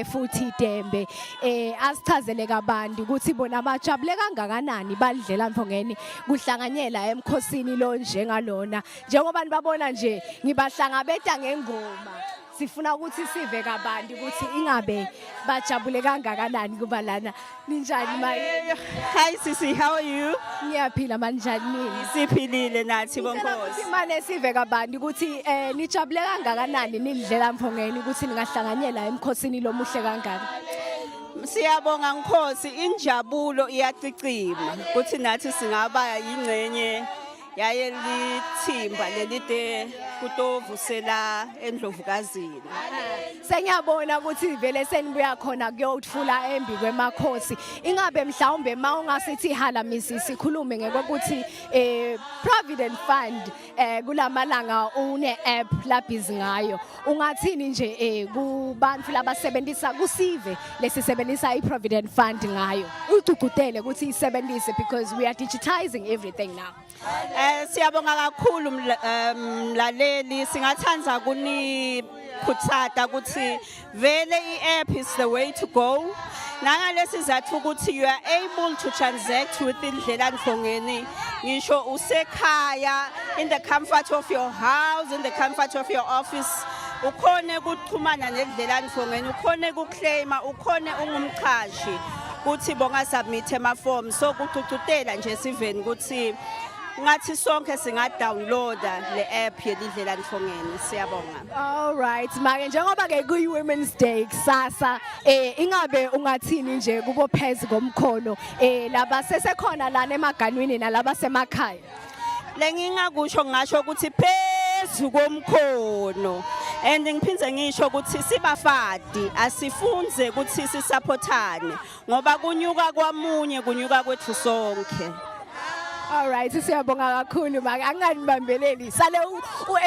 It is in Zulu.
futhi idembe eh asichazele kabanti ukuthi bona bajabule kangakanani balidlela mfongeni kuhlanganyela emkhosini lo njengalona njengoba nibabona nje ngibahlangabeta ngengoma sifuna ukuthi sive kabanti ukuthi ingabe bajabule kangakanani kuba lana Ninjani maye? Hi sisi, how are you? Ngiyaphila manjani nini? Siphilile nathi bonkosi. Imane sive kabantu ukuthi eh nijabule kangakanani nidlela mphongeni ukuthi ningahlanganyela emkhosini lomuhle kangaka. Siyabonga nkosi injabulo iyacicima ukuthi nathi singaba yingcenye yaye lithimba lelide kutovusela endlovukazini sengiyabona ukuthi vele senibuya khona kuyothula embi kwemakhosi ingabe mhlawumbe ma ungasithi hala misi sikhulume ngekokuthi eh provident fund eh kulamalanga une app labhizi ngayo Ungathini nje eh kubantu labasebenzisa kusive lesisebenzisa iProvident Fund ngayo. Ugcugudele ukuthi isebenzise because we are digitizing everything now. Eh siyabonga kakhulu eh, mlaleli singathanda kuni khuthata ukuthi vele i-app is the way to go nangalesi zathu ukuthi you are able to transact with indlela ndlongeni ngisho usekhaya in the comfort of your house in the comfort of your office ukhone ukuxhumana nendlela ndlongeni ukhone ukuclaima ukhone ungumchashi kuthi bonga submit ama form so kucucutela nje siveni ukuthi ngathi sonke singa downloada le app yelidlela ndlongeni siyabonga All right make njengoba ke kuyi women's day kusasa eh ingabe ungathini nje kubo phezulu komkhono eh laba sesekhona lana emaganwini nalaba semakhaya lengingakusho ngasho ukuthi phezu komkhono and ngiphinde ngisho ukuthi sibafadi asifunze ukuthi sisaphothane ngoba kunyuka kwamunye kunyuka kwethu sonke All right siyabonga kakhulu maka anganibambeleli sale u